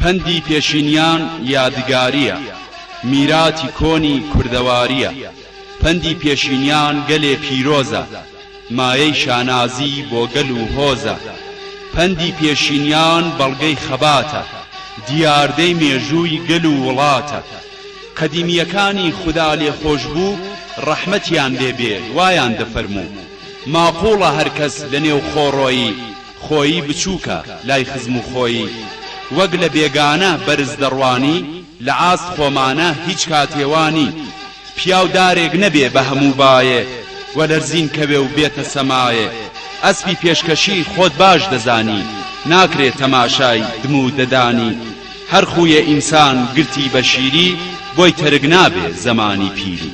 پەندی پێشینیان یادگارییە، میراتی کۆنی کوردەوارییە، پەندی پێشینیان گەلێ پیرۆزە، مایەی شانازی بۆ گەل و هۆزە، پەندی پێشینیان بەڵگەی خەباتە، دیاردەی مێژووی گەل و وڵاتە. قەدیمییەکانی خودا لێخۆشبوو ڕەحمەتیان لێ بێ وایان دەفەرموو، ماقووڵە هەر کەس لەنێوخۆڕۆی، خۆیی بچووکە لای خزم و خۆیی وەک لە بێگانە بەرز دەڕوانی لە ئاست خۆمانە هیچ کاتێ وا نی پیاو دارێک نەبێ بە هەموو بایێ و لەرزین کەوێ و بێتە سەمایێ ئەسپی پێشکەشی خۆت باش دەزانی ناکرێ تەماشای دم و ددانی هەر خوویێ ئینسان گرتی بە شیری بۆی تەرک نابێ زەمانی پیری.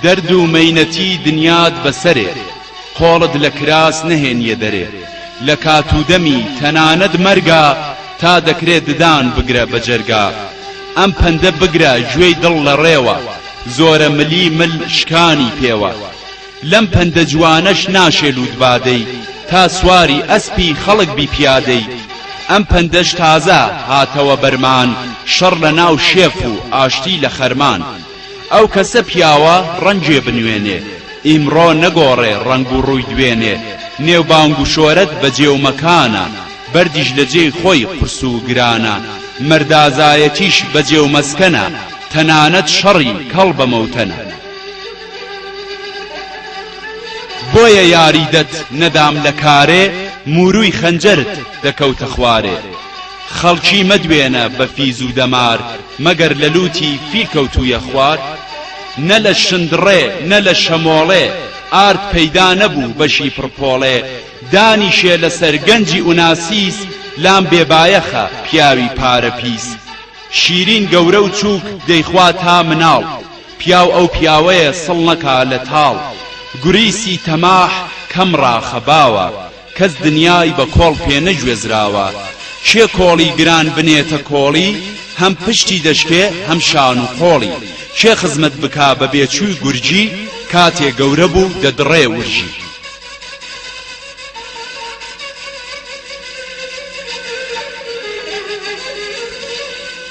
دەرد و مەینەتی دنیات بە سەرێ قۆڵت لە کراس نەهێنیە دەرێ لە کات و دەمی تەنانەت مەرگا تا دەکرێ ددان بگرە بە جەرگا ئەم پەندە بگرە گوێی دڵ لە ڕێوە زۆرە ملی مل شکانی پێوە لەم پەندە جوانەش ناشێ لووتبادەی تا سواری ئەسپی خەڵک بی پیادەی ئەم پەندەش تازە هاتەوە بەرمان شەڕ لە ناو شێف و ئاشتی لە خەرمان ئەو کەسە پیاوە ڕەنجێ بنوێنێ ئیمڕۆ نەگۆڕێ ڕەنگ و ڕووی دوێنێ نێو بانگ و شۆرەت بە جێ و مەکانە بەردیش لە جێی خۆی قورس و گرانە مەردازایەتیش بە جێ و مەسکەنە تەنانەت شەڕی کەڵ بە مەوتەنە. بۆیە یاریدەت نەدام لە کارێ موروی خەنجەرت دەکەوتە خوارێ خەڵکی مەدوێنە بە فیزو دەمار مەگەر لە لوتی فیل کەوتویە خوار نە لە شندڕێ نە لە شەمۆڵێ ئارد پەیدا نەبوو بەشی پڕپۆڵێ دانیشێ لە سەر گەنجی ئوناسیس لام بێ بایەخە پیاوی پارە پیس شیرین گەورە و چوک دەیخوا تا مناڵ پیاو ئەو پیاوەیە سڵ نەکا لە تاڵ گوریسی تەماح کەم ڕاخە باوە کەس دنیای بە کۆڵ پێ نەگوێزراوە کێ کۆڵی گران بنێتە کۆڵی هەم پشتی دەشکێ هەم شان و قۆڵی کێ خزمەت بکا بە بێچووی گورجی کاتێ گەورە بوو دەدڕێ ورژی.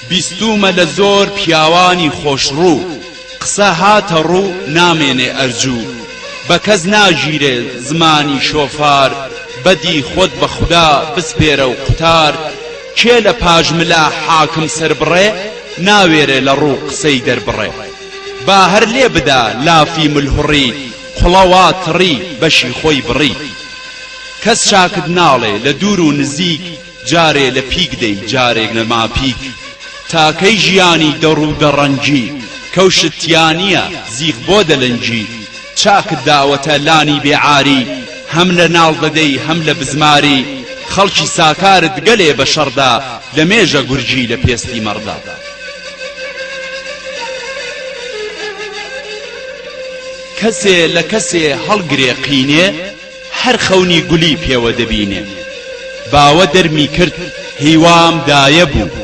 بیستوومە لە زۆر پیاوانی خۆشڕوو قسە هاتە ڕوو نامێنێ ئەرجوو بە کەس ناگیرێ زمانی شۆفار بەدی خۆت بە خودا بسپێرە و قوتار کێ لە پاش ملا حاکم سەربڕێ ناوێرێ لە ڕوو قسەی دەربڕێ با هەر لێ بدا لافی ملهوڕی قڵە وا تڕی بەشی خۆی بڕی. کەس چاکت ناڵێ لە دوور و نزیک جارێ لە پیک دەی جارێ لە ماپیک تا کەی ژیانی دەڕ و دەڕەنگی کەوشت تیا نیە زیخ بۆ دەلەنگی چاکت داوەتە لانی بێ عاری هەم لە ناڵ دەدەی هەم لە بزماری خەڵکی ساکارت گەلێ بە شەڕدا لە مێژە گورگی لە پێستی مەڕدا. کەسێ لە کەسێ هەڵگرێ قینێ هەر خەونی گولی پێوە دەبینێ باوە دەرمی کرد هیوام دایە بوو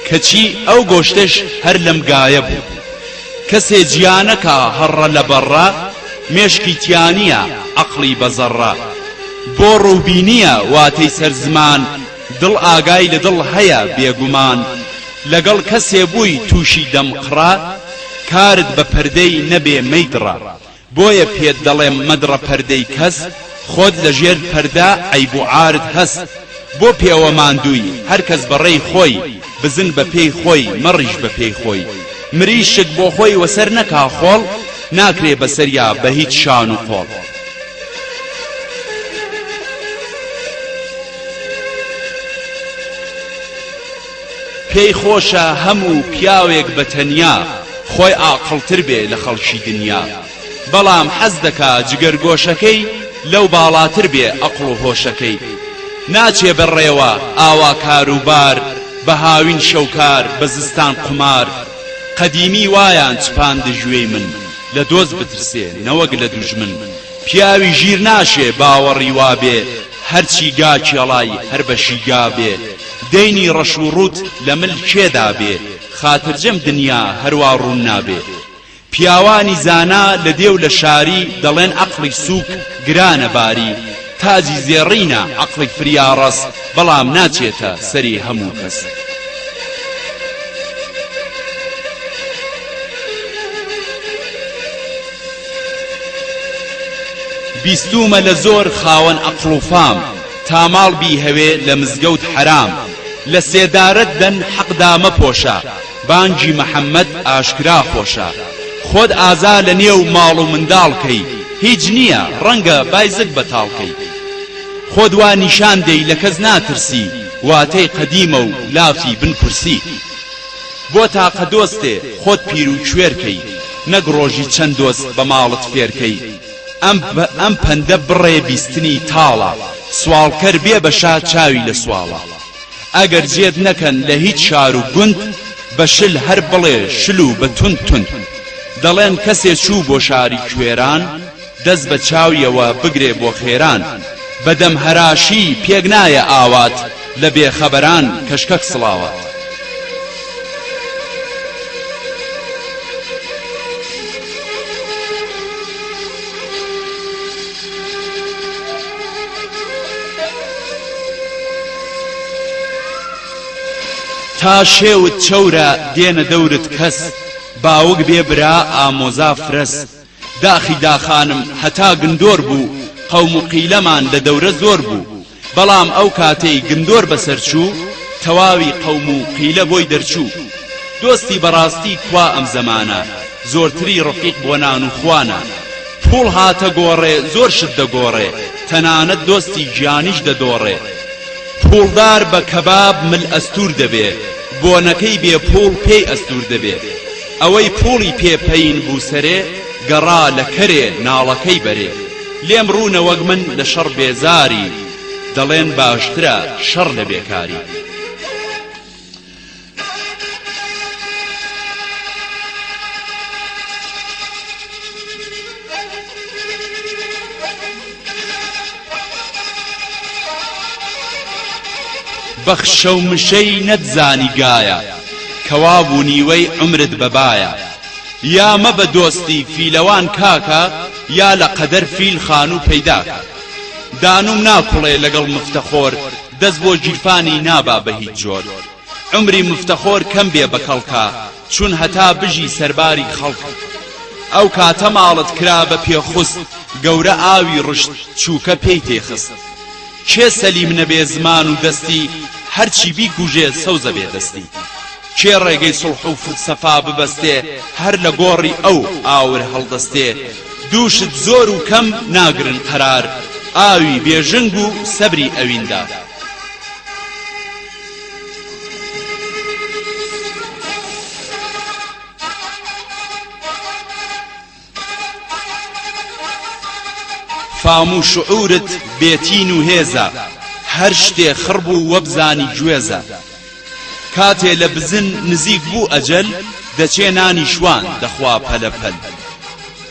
کەچی ئەو گۆشتەش هەر لەم گایە بوو کەسێ جیا نەکا هەڕە لە بەڕە مێشکی تیانە عەقڵی بە زەڕە بۆ ڕووبینیە واتەی سەر زمان دڵ ئاگای لە دڵ هەیە بێگومان لەگەڵ کەسێ بووی تووشی دەمقڕە کارت بە پەردەی نەبێ مەیدڕە بۆیە پێت دەڵێم مەدڕە پەردەی کەس خۆت لە ژێر پەردە عەیب و عارت هەس بۆ پێوە ماندووی هەر کەس بە ڕێی خۆی بزن بە پێی خۆی مەڕیش بە پێی خۆی مریشک بۆ خۆی وەسەر نەکا خۆڵ ناکرێ بە سەریا بە هیچ شان و قۆڵ. پێی خۆشە هەمو پیاوێک بە تەنیا خۆی ئاقڵتر بێ لە خەڵکی دنیا بەڵام حەز دەکا جگەر گۆشەکەی لەو باڵاتر بێ ئەقڵ و هۆشەکەی ناچێ بە ڕێوە ئاوا کارو بار بە هاوین شەو کار بە زستان قومار قەدیمی وایان چپاند ژوێی من لە دۆست بترسێ نەوەک لە دوژمن پیاوی ژیر ناشێ باوەڕی وابێ هەرچی گا کێڵای هەر بەشی گا بێ دەینی ڕەش و ڕووت لە مل کێ دابێ خاترجەم دنیا هەروا ڕوون نابێ پیاوانی زانا لە دێ و لە شاری دەڵێن عەقڵی سووک گرانە باری تاجی زێڕینە عەقڵی فریاڕەس بەڵام ناچێتە سەری هەموو کەس. بیستوومە لە زۆر خاوەن ئەقڵ و فام تا ماڵ بیهەوێ لە مزگەوت حەرام لە سێدارەت دەن حەقدا مەپۆشە بانگی محمد ئاشکرا خۆشە خۆت ئازا لە نێو ماڵ و منداڵ کەی هیچ نیە ڕەنگە بایزت بەتاڵ کەی خۆت وا نیشان دەی لە کەس ناترسی واتەی قەدیمە و لافی بن کورسی. بۆ تاقە دۆستێ خۆت پیرو کوێر کەی نەک ڕۆژی چەند دۆست بە ماڵت فێر کەی ئەم ئەم پەندە بڕێ بیستنی تاڵە سواڵکەر بێ بە شا چاوی لە سواڵە ئەگەر جێت نەکەن لە هیچ شار و گوند بە شل هەر بڵێ شل و بە توند توند دەڵێن کەسێ چوو بۆ شاری کوێران دەست بە چاویەوە بگرێ بۆ خێران بە دەم هەراشی پێک نایە ئاوات لە بێ خەبەران کەشکەک سڵاوات. تا شێوت چەورە دێنە دەورت کەس باوک بێ برا ئامۆزا فرەس داخی داخانم هەتا گندۆر بوو قەوم و قیلەمان لە دەورە زۆر بوو بەڵام ئەو کاتەی گندۆر بەسەر چوو تەواوی قەوم و قیلە بۆی دەرچوو دۆستی بەڕاستی کوا ئەم زەمانە زۆرتری ڕفیق بۆ نان و خوانە پووڵ هاتە گۆڕێ زۆر شت دەگۆڕێ تەنانەت دۆستی گیانیش دەدۆڕێ پووڵدار بە کەباب مل ئەستوور دەبێ بۆنەکەی بێ پووڵ پێی ئەستوور دەبێ ئەوەی پووڵی پێ پەین بوو سەرێ گەڕا لە کەرێ ناڵەکەی بەرێ لێم ڕوو نەوەک من لە شەڕ بێزاری دەڵێن باشترە شەڕ لە بێکاری. بەخشە و مشەی نەتزانی گایە کەوا بوو نیوەی عومرت بە بایە یا مەبە دۆستی فیلەوان کاکە یا لە قەدەر فیل خانوو پەیداکە دانووم ناکوڵێ لەگەڵ مفتەخۆر دەست بۆ گیرفانی نابا بە هیچ جۆر عومری مفتەخۆر کەم بێ بە کەڵکا چون هەتا بژی سەرباری خەڵک ئەو کاتە ماڵت کرا بە پێخوست گەورە ئاوی ڕشت چووکە پێی تێخست کێ سەلیم نەبێ زمان و دەستی هەرچی بیکوژێ سەوزە بێ دەستی کێ ڕێگەی سڵح و فلسەفا ببەستێ هەر لە گۆڕی ئەو ئاور هەڵدەستێ دووشت زۆر و کەم ناگرن قەرار ئاوی بێژنگ و سەبری ئەویندا فام و شعورت بێ تین و هێزە هەر شتێ خڕ بوو وەبزانی گوێزە کاتێ لە بزن نزیک بوو ئەجەل دەچێ نانی شوان دەخوا پەلە پەل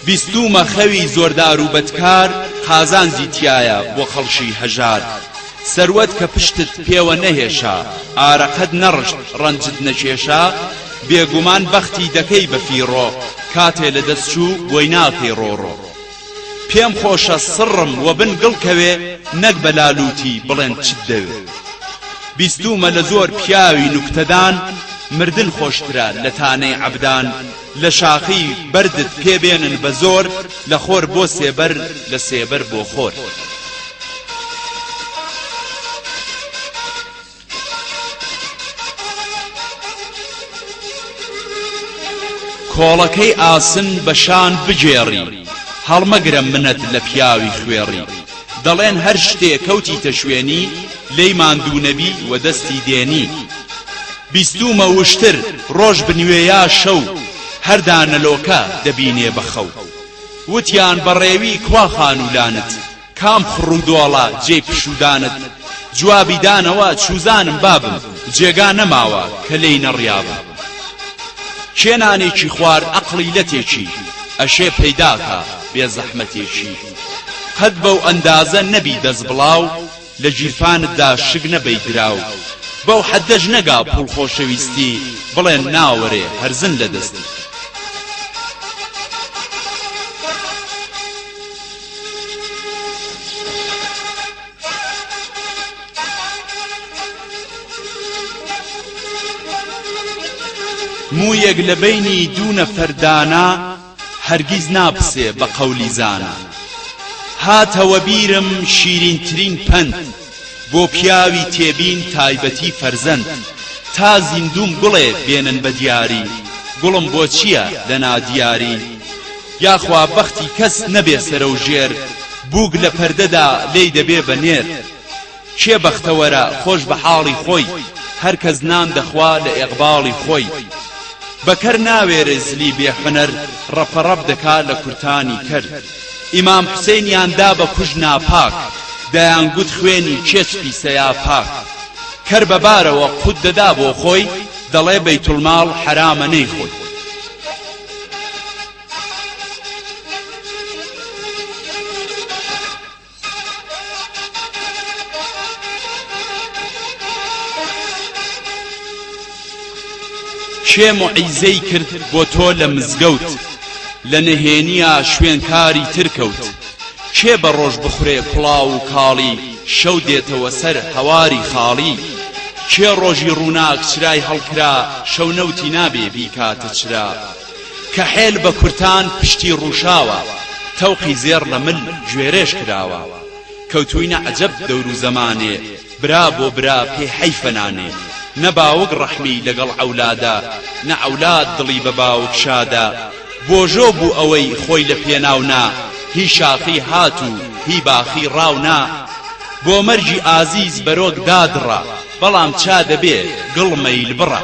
بیستوومە خەوی زۆردارو بەدکار قازانجی تیایە بۆ خەڵشی هەژار سەروەت کە پشتت پێوە نەهێشا ئارەقەت نەڕشت ڕەنجت نەکێشا بێگومان بەختی دەکەی بە فیڕۆ کاتێ لە دەست چوو بۆی ناکەی ڕۆڕۆ پێم خۆشە سڕم وە بن گڵ کەوێ نەک بە لالووتی بڵێن چت دەوێ بیستوومە لە زۆر پیاوی نوکتەدان مردن خۆشترە لە تانەی عەبدان لە شاخی بەردت پێ بێنن بە زۆر لە خۆر بۆ سێبەر لە سێبەر بۆ خۆر. کۆڵەکەی ئاسن بە شان بگێڕی هەڵمەگرە منەت لە پیاوی خوێڕی دەڵێن هەر شتێ کەوتیتە شوێنی لێی ماندوو نەبی و دەستی دێنی بیستوومە وشتر ڕۆژ بنوێ یا شەو هەر دانەلۆکە دەبینێ بە خەو وتیان بە ڕێوی کوا خانوولانت کام خڕ و دۆڵە جێی پشوودانت جوابی دانەوە چووزانم بابم جێگا نەماوە کە لێی نەڕیابم کێ نانێکی خوارد ئەقڵی لەتێکی ئەشێ پەیداکا بێ زەحمەتێکی قەت بەو ئەندازە نەبی دەست بڵاو لە گیرفانتدا شک نەبەی دراو بەو حەدەش نەگا پوڵ خۆشەویستی بڵێ ناوەرێ هەرزن لە دەستی. موویەک لە بەینی دوو نەفەر دانا. هەرگیز ناپسێ بە قەولی زانا. هاتەوە بیرم شیرینترین پەند، بۆ پیاوی تێبین تایبەتی فەرزەند، تا زیندووم گوڵێ بێنن بە دیاری، گوڵم بۆ چییە لە نادیاری؟ یاخوا بەختی کەس نەبێ سەرەوژێر، بووک لە پەردەدا لێی دەبێ بە نێر. کێ بەختەوەرە خۆش بە حاڵی خۆی هەر کەس نان دەخوا لە ئێقباڵی خۆی بە کەر ناوێرێ زلی بێ حونەر ڕەپە ڕەپ دەکا لە کورتانی کەر ئیمام حوسێنیان دا بە کوژ ناپاک دەیان گوت خوێنی کێچ پیسە یا پاک کەر بە بارەوە قوت دەدا بۆ خۆی دەڵێ بەیتولماڵ حەرامە نەیخۆی کێ موعیزەی کرد بۆ تۆ لە مزگەوت لە نهێنیا شوێن کاری تر کەوت کێ بە ڕۆژ بخورێ کوڵاو و کاڵی شەو دێتەوە سەر هەواری خاڵی کێ ڕۆژی ڕووناک چرای هەڵکرا شەو نەوتی نابێ بیکاتە چرا کەحێل بە کورتان پشتی ڕووشاوە تەوقی زێڕ لە مل گوێرێش کراوە کەوتووینە عەجەب دەور و زەمانێ برا بۆ برا پێ حەیفە نانێ نە باوک ڕەحمی لەگەڵ عەولادە نە عەولاد دڵی بە باوک شادە بۆژۆ بوو ئەوەی خۆی لە پێناو نا هی شاخی هات و هی باخی ڕاو نا بۆ مەرگی ئازیز بەرۆک دادڕا بەڵام چا دەبێ گڵ مەیل بڕا.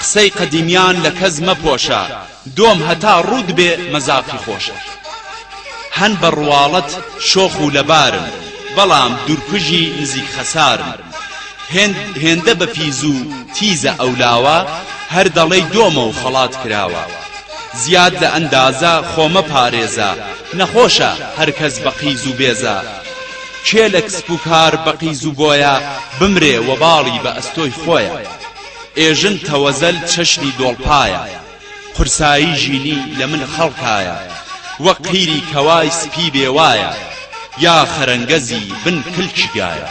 قسەی قەدیمیان لە کەس مەپۆشە دۆم هەتا ڕووت بێ مەزاقی خۆشە هەن بە ڕواڵەت شۆخ و لەبارن بەڵام دورکوژی نزیک خەسارن هێندە بە پیز و تیزە ئەو لاوە هەر دەڵێی دۆمە و خەڵات کراوە زیاد لە ئەندازە خۆمە پارێزە نەخۆشە هەرکەس بە قیز و بێزە کێ لە کسپ و کار بە قیز و بۆیە بمرێ وەباڵی بە ئەستۆی خۆیە ئێژن تەوەزەل چەشنی دۆڵپایە قورسایی ژینی لە مل خەڵکایە وەک قیری کەوای سپی بێ وایە یا خەرەنگەزی بن کلکی گایە.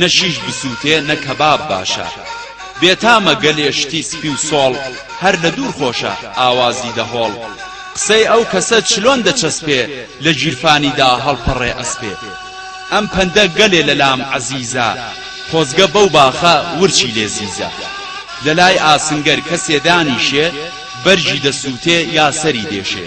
نە شیش بسوتێ نە کەباب باشە بێتامە گەلێ شتی سپی و سۆڵ هەر لە دوور خۆشە ئاوازی دە هۆڵ قسەی ئەو کەسە چلۆن دە چەسپێ لە گیرفانی دا هەڵپەڕێ ئەسپێ ئەم پەندە گەلێ لەلام عەزیزە خۆزگە بەو باخە ورچی لێ زیزە لەلای ئاسنگەر کەسێ دانیشێ بەرگی دەسووتێ یا سەری دێشێ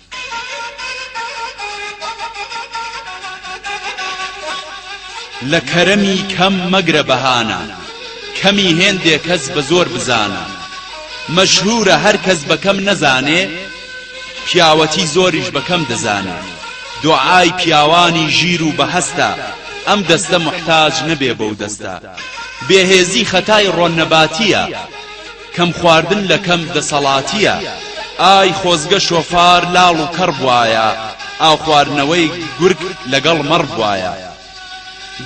لە کەرەمی کەم مەگرە بەهانە کەمی هێندێ کەس بە زۆر بزانە مەشهوورە هەر کەس بە کەم نەزانێ پیاوەتی زۆریش بە کەم دەزانێ دۆعای پیاوانی ژیر و بەهەستە ئەم دەستە محتاج نەبێ بەو دەستە بێهێزی خەتای ڕۆننەباتییە کەم خواردن لە کەم دەسەڵاتیە ئای خۆزگە شۆفار لاڵ و کەڕ بوایە ئاو خواردنەوەی گورگ لەگەڵ مەڕ بوایە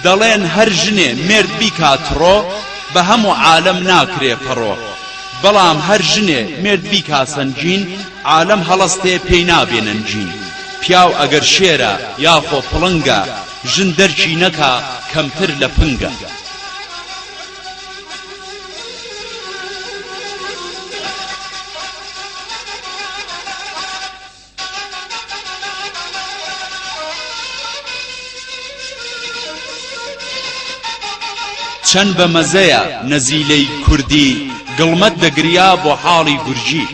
دەڵێن هەر ژنێ مێرد بیکا تڕۆ بە هەمو عالەم ناکرێ پەڕۆ بەڵام هەر ژنێ مێرد بیکا سەنگین عالەم هەڵەستێ پێی نابێ نەنگین پیاو ئەگەر شێرە یاخۆ پڵنگە ژن دەرکی نەکا کەمتر لە پنگە. چەن بە مەزەیە نەزیلەی کوردی گڵمەت دەگریا بۆ حاڵی گورجی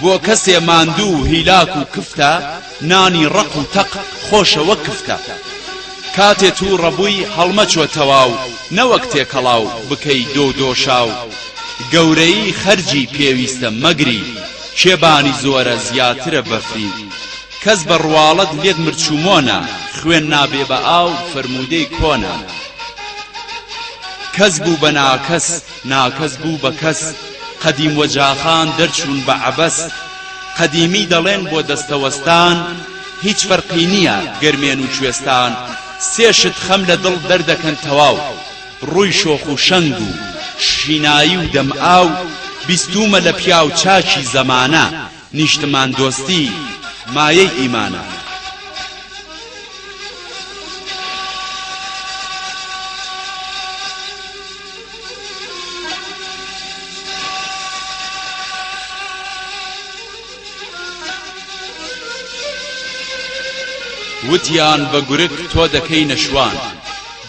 بۆ کەسێ ماندوو و هیلاک و کفتە نانی ڕەق و تەق خۆشە وەک کفتە. کاتێ توو ڕەبووی هەڵمەچۆ تەواو نەوەک تێکەڵاو بکەی دۆ دۆشاو گەورەیی خەرجی پێویستە مەگری کێ بانی زۆرە زیاترە بەفری کەس بە ڕواڵەت لێت مرچومۆنە خوێن نابێ بە ئاو فەرموودەی کۆنە کەس بوو بە ناکەس ناکەس بوو بە کەس قەدیم و جاخان دەرچوون بە عەبەس قەدیمی دەڵێن بۆ دەستەوەستان هیچ فەرقی نییە گەرمێن و کوێستان سێ شت خەم لە دڵ دەردەکەن تەواو ڕووی شۆخ و شەنگ و شینایی و دەم ئاو بیستوومە لە پیاو چاکی زەمانە نیشتماندۆستی مایەی ئیمانە. وتیان بە گورگ تۆ دەکەینە شوان.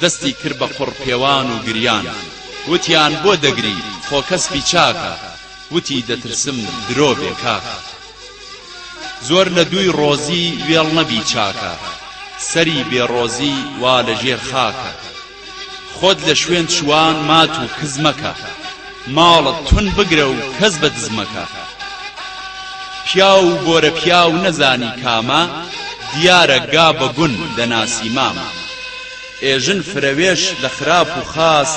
دەستی کرد بە قوڕ پێوان و گریان. وتیان بۆ دەگری خۆ کەس بیچاکە. وتی دەترسم درۆ بێ کاکە زۆر لە دووی ڕۆزی وێڵ نەبی چاکە سەری بێ ڕۆزی وا لە ژێر خاکە خۆت لە شوێن چووان مات و کز مەکە ماڵت تون بگرە و کەس بە دز مەکە پیاو و بۆرە پیاو نەزانی کامە دیارە گا بە گون دەناسی مامە ئێژن فرەوێش لە خراپ و خاس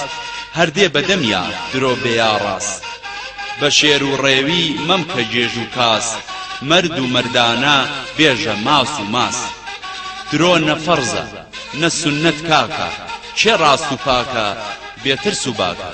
هەر دێ بە دەمیا درۆ بێ یا ڕاس بە شێر و ڕێوی مەمکە گێژ و کاس مەرد و مەردانە بێژە ماس و ماس درۆ نە فەڕزە نە سوننەت کاکە کێ ڕاست و پاکە بێ ترس و باکە.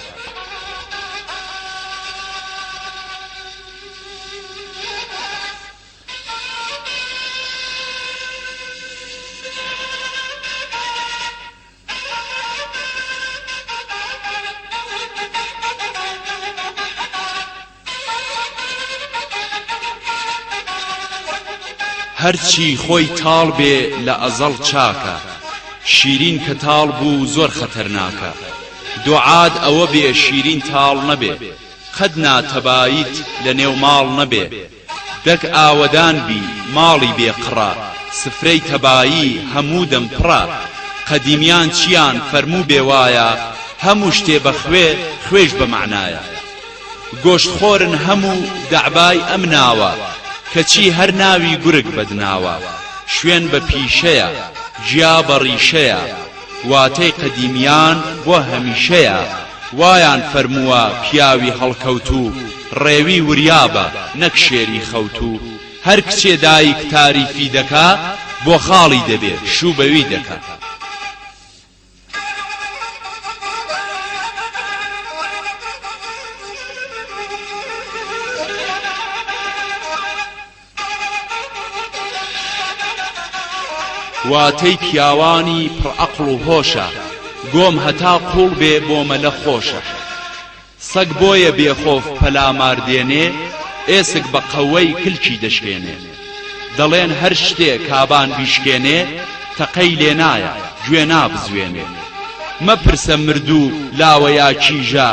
هەرچی خۆی تاڵ بێ لە ئەزەڵ چاکە شیرین کە تاڵ بوو زۆر خەتەرناکە دوعاد ئەوە بێ شیرین تاڵ نەبێ قەت ناتەبایت لە نێو ماڵ نەبێ دەک ئاوەدان بی ماڵی بێ قڕە سفرەی تەبایی هەموو دەم پڕە قەدیمیان چیان فەرموو بێ وایە هەموو شتێ بە خوێ خوێیش بە مەعنایە گۆشت خۆرن هەموو دەعبای ئەم ناوە کەچی هەر ناوی گورگ بەدناوە شوێن بە پیشەیە گیا بە ڕیشەیە واتەی قەدیمیان بۆ هەمیشەیە، وایان فەرمووە پیاوی هەڵکەوتوو ڕێوی وریابە نەک شێری خەوتوو، هەر کچێ دایک تاریفی دەکا بۆ خاڵی دەبێ شوو بەوی دەکا. واتەی پیاوانی پڕ ئەقڵ و هۆشە گۆم هەتا قوڵ بێ بۆ مەلە خۆشە سەگ بۆیە بێ خۆف پەلامار دێنێ ئێسک بە قەوەی کلکی دەشکێنێ دەڵێن هەر شتێ کابان بیشکێنێ تەقەی لێ نایە گوێ نابزوێنێ مەپرسە مردوو لاوەیا کیژە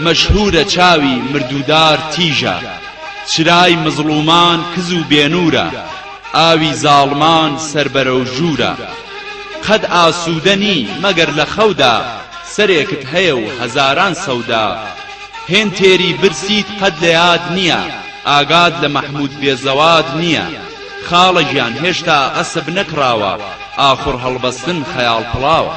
مەشهورە چاوی مردوودار تیژە چرای مزڵومان کز و بێنوورە ئاوی زاڵمان سەر بەرەو ژوورە قەت ئاسوودە نی مەگەر لە خەودا سەرێکت هەیە و هەزاران سەودا هێند تێری برسیت قەت لە یاد نییە ئاگات لە مەحمود بێزەواد نییە خاڵە گیان هێشتا عەسب نەکڕاوە ئاخوڕ هەڵبەستن خەیاڵ پڵاوە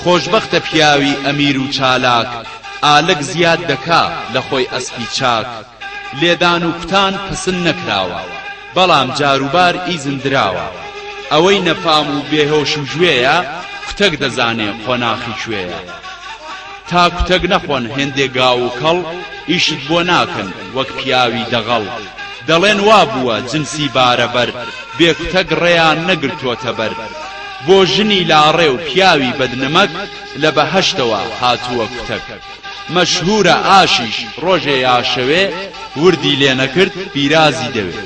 خۆشبەختە پیاوی ئەمیر و چالاک ئالک زیاد دەکا لە خۆی ئەسپی چاک لێدان و کوتان پەسند نەکراوە بەڵام جاروبار ئیزن دراوە ئەوەی نەفام و بێهۆش و ژوێیە کوتەک دەزانێ قۆناخی کوێیە تا کوتەک نەخۆن هێندێ گاو و کەڵ ئیشت بۆ ناکەن وەک پیاوی دەغەڵ دەڵێن وا بووە جنسی بارەبەر بێ کوتەک ڕێیان نەگرتۆتە بەر بۆ ژنی لاڕێ و پیاوی بەد نمەک لە بەهەشتەوە هاتووە کوتەک مەشهوورە ئاشیش ڕۆژێ یا شەوێ وردی لێ نەکرد پیرازی دەوێ.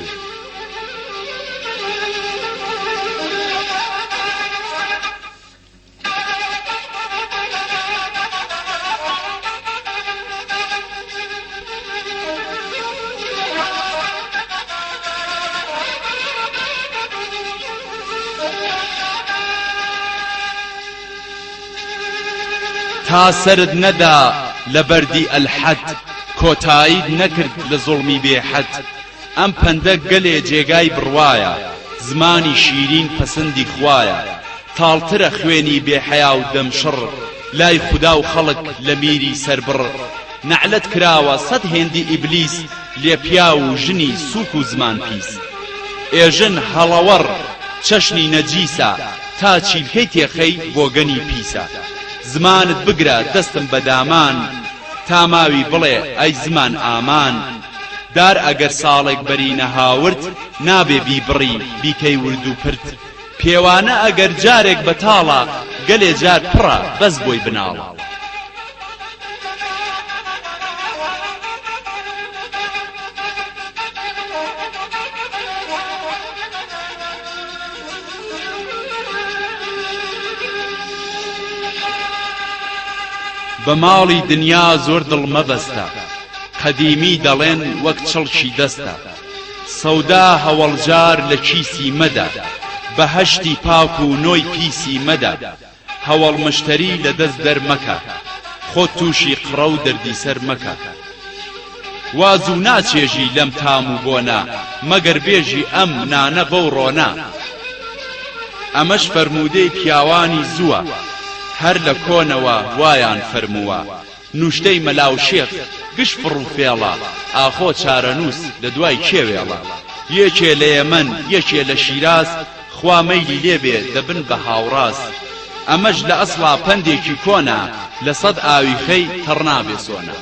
تا سەرت نەدا لە بەردی ئەلحەد کۆتاییت نەکرد لە زوڵمی بێ حەد ئەم پەندە گەلێ جێگای بڕوایە زمانی شیرین پەسندی خوایە تاڵترە خوێنی بێ حەیا و دەم شڕ لای خودا و خەڵک لە میری سەربڕ نەعلەت کراوە سەد هێندی ئیبلیس لێ پیاو و ژنی سووک و زمان پیس ئێژن هەڵەوەڕ چەشنی نەجیسە تا چیلکەی تێخەی بۆگەنی پیسە زمانت بگرە دەستم بە دامان تا ماوی بڵێ ئەی زمان ئامان دار ئەگەر ساڵێک بەری نەهاورد نابێ بیبڕی بیکەی وردوپرد پێوانە ئەگەر جارێک بەتاڵە گەلێ جار پڕە بەس بۆی بناڵە. بە ماڵی دنیا زۆر دڵ مەبەستە قەدیمی دەڵێن وەک چڵکی دەستە. سەودا هەوەڵجار لە کیسی مەدە بەهەشتی پاک و نۆی پیسی مەدە هەوەڵ مشتەری لە دەست دەر مەکە خۆت تووشی قڕە و دەردی سەر مەکە وا زوو ناچێژی لەم تام و بۆنە مەگەر بێژی ئەم نانە بەو ڕۆنە ئەمەش فەرموودەی پیاوانی زووە هەر لە کۆنەوە وایان فەرمووە نوشتەی مەلا و شێخ گش فڕ و فێڵە ئاخۆ چارەنووس لە دوای کێ وێڵە یێکێ لە یەمەن یەکێ لە شیراز خوا مەیلی لێ بێ دەبن بە هاوڕاز ئەمەش لە ئەسڵا پەندێکی کۆنە لە سەد ئاوی خەی تەڕ نابێ سۆنە.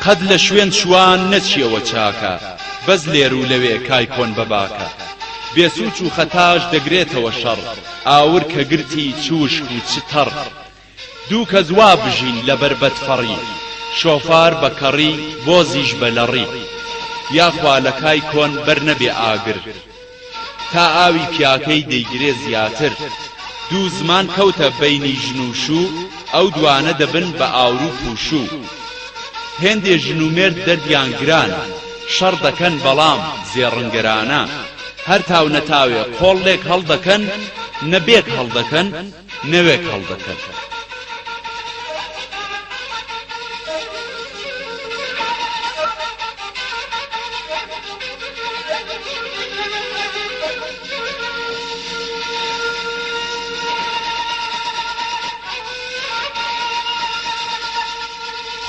قەت لە شوێن شوان نەچیەوە چاکە بەس لێرو لەوێ کای کۆن بە باکە بێ سوچ و خەتاش دەگرێتەوە شەڕ ئاور کە گرتی چ وشک و چ تەڕ دوو کەس وا بژین لەبەر بەدفەڕی شۆفار بە کەڕی بۆزیش بە لەڕی یاخوا لە کای کۆن بەر نەبێ ئاگر تا ئاوی پیاکەی دەیگرێ زیاتر دوو زمان کەوتە بەینی ژن و شوو ئەو دوانە دەبن بە ئاورو پووشوو هێندێ ژن و مێرد دەردیان گرانە شەڕ دەکەن بەڵام زێڕنگەرانە هەر تاو نەتاوێ قۆڵ لێک هەڵدەکەن نە بێک هەڵدەکەن نەوێک هەڵدەکەن.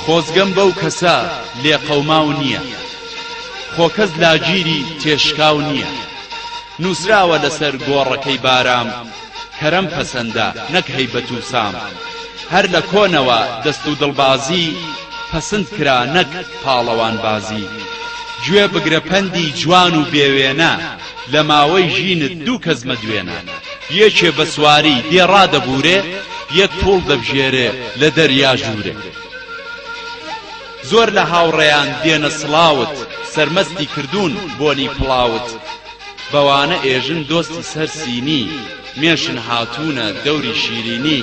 خۆزگەم بەو کەسە لێقەوماو نییە خۆ کەس لاگیری تێشکاو نییە نووسراوە لەسەر گۆڕەکەی بارام کەرەم پەسەندە نەک هەیبەت و سام هەر لە کۆنەوە دەست و دڵبازی پەسند کرا نەک پاڵەوانبازی گوێ بگرە پەندی جوان و بێ وێنە لە ماوەی ژینت دوو کەس مەدوێنە یەکێ بە سواری دێڕا دەبورێ یەک پووڵ دەبژێرێ لە دەریا ژوورێ زۆر لە هاوڕێیان دێنە سڵاوت سەرمەستی کردوون بۆنی پڵاوت بەوانە ئێژن دۆستی سەر سینی، مێشن هاتوونە دەوری شیرینی،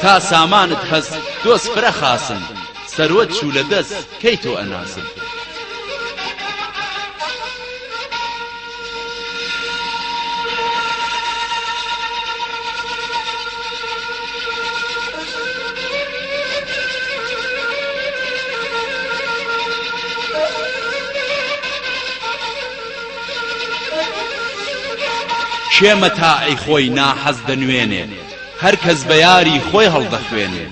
تا سامانت هەس دۆست فرە خاسن، سەروەت چوو لە دەس کەی تۆ ئەناسن؟ کێ مەتاعی خۆی ناحەز دەنوێنێ هەر کەس بە یاری خۆی هەڵدەخوێنێ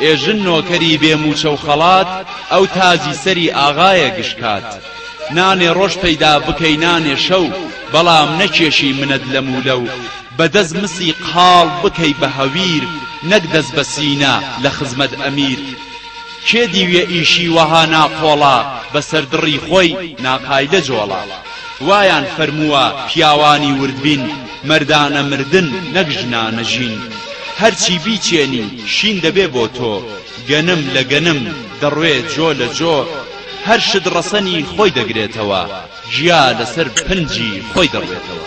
ئێ ژن نۆکەری بێ مووچە و خەڵات ئەو تاجی سەری ئاغایە گشکات نانێ ڕۆژ پەیدا بکەی نانێ شەو بەڵام نەکێشی منەت لەم و لەو بە دەست مسی قاڵ بکەی بە هەویر نەک دەست بە سینە لە خزمەت ئەمیر کێ دیویە ئیشی وەها ناقۆڵە بەسەر دڕی خۆی ناقایدە جۆڵە وایان فەرمووە پیاوانی وردبین مەردانە مردن نەک ژنانە ژین هەرچی بیچێنی شین دەبێ بۆ تۆ گەنم لە گەنم دەڕوێ جۆ لە جۆ هەر شت ڕەسەنی خۆی دەگرێتەوە گیا لەسەر پنجی خۆی دەڕوێتەوە.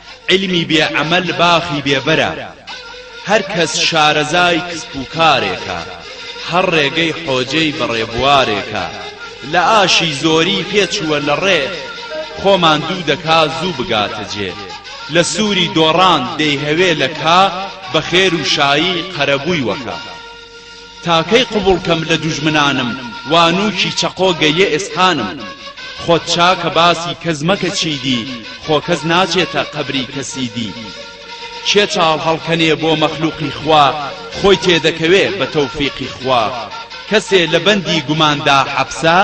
عیلمی بێ عەمەل باخی بێ بەرە. هەر کەس شارەزای کسپ و کارێکە. هەر ڕێگەی حۆجێی بە ڕێبوارێکە. لە ئاشی زۆری پێ چووە لە ڕێ. خۆ ماندوو دەکا زوو بگاتە جێ. لە سووری دۆڕان دەیهەوێ لە کا. بە خێر و شایی قەرەبووی وەکا. تا کەی قبوڵ کەم لە دوژمنانم وا نوکی چەقۆ گە یە ئێسقانم خۆت چاکە باسی کەس مەکە چی دی خۆ کەس ناچێتە قەبری کە سی دی کێ چاڵ هەڵکەنێ بۆ مەخلوقی خوا خۆی تێدەکەوێ بە تەوفیقی خوا کەسێ لە بەندی گومان دا حەپسە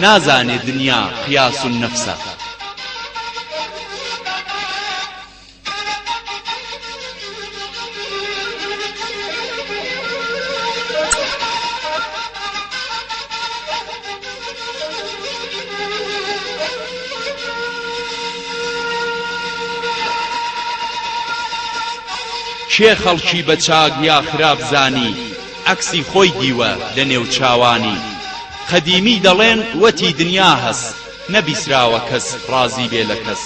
نازانێ دنیا قیاس النفسە. کێ خەڵکی بە چاک یا خراپ زانی عەکسی خۆی دیوە لە نێو چاوانی قەدیمی دەڵێن وەتی دنیا هەس نەبیسراوە کەس ڕازی بێ لە کەس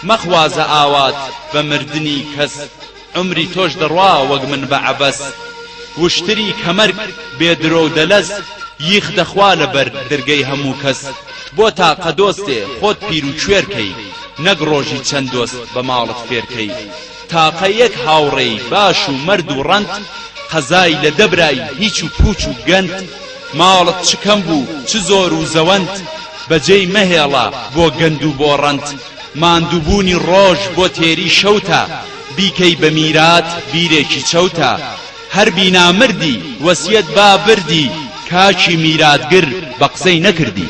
مەخوازە ئاوات بە مردنی کەس عومری تۆش دەڕوا وەک من بە عەبەس وشتری کەمەرگ بێ درۆ و دەلەس یخ دەخوا لە بەر درگەی هەموو کەس بۆ تاقە دۆستێ خۆت پیر و کوێر کەی نەک ڕۆژی چەند دۆست بە ماڵت فێر کەی تاقە یەک هاوڕێی باش و مەرد و ڕەنت قەزای لە دە برای هیچ و پووچ و گەند ماڵت چ کەم بوو چ زۆر و زەوەند بە جێی مەهێڵە بۆ گەند و بۆ ڕەنت ماندووبوونی ڕۆژ بۆ تێری شەوتە بیکەی بە میرات بیرێکی چەوتە هەر بینا مردی وەسیەت با بردی کاکی میراتگر بە قسەی نەکردی.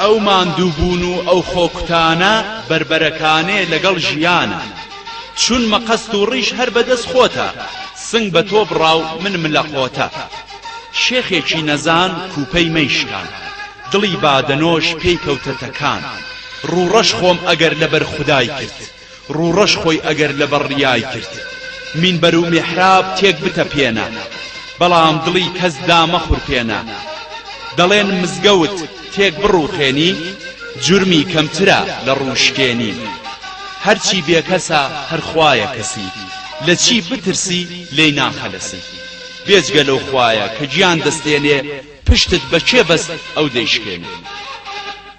ئەو ماندووبوون و ئەو خۆکوتانە بەربەرەکانێ لەگەڵ ژیانە. چون مقەست و ڕیش هەر بە دەس خۆتە، سنگ بە تۆ بڕا و من ملە قۆتە. شێخێکی نەزان کوپەی مەی شکان، دڵی بادەنۆش پێی کەوتە تەکان. ڕووڕەش خۆم ئەگەر لە بەر خودای کرد. ڕوڕەش خۆی ئەگەر لەبەر ڕیای کرد مینبەر و میحراب تێک بتەپێنە بەڵام دڵی کەس دامەخورپێنە دەڵێن مزگەوت تێک بڕوخێنی جورمی کەمترە لە ڕوشکێنی هەرچی بێکەسە هەر خوایە کەسی لە چی بترسی لێی ناخەلەسی بێجگە لەو خوایە کە گیان دەستێنێ پشتت بە کێ بەست ئەو دەیشکێنێ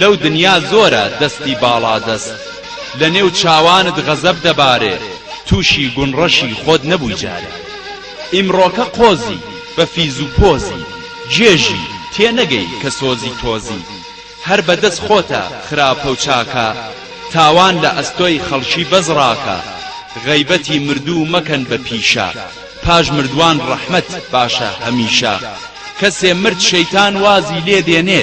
لەو دنیا زۆرە دەستی باڵادەست لە نێو چاوانت غەزەب دەبارێ تووشی گون ڕەشی خۆت نەبووی جارێ ئیمڕۆکە قۆزی بە فیز و پۆزی گێژی تێ نەگەی کە سۆزی تۆزی هەر بە دەست خۆتە خراپە و چاکە تاوان لە ئەستۆی خەڵکی بەس ڕاکە غەیبەتی مردوو مەکەن بە پیشە پاش مردووان ڕەحمەت باشە هەمیشە کەسێ مرد شەیتان وازی لێ دێنێ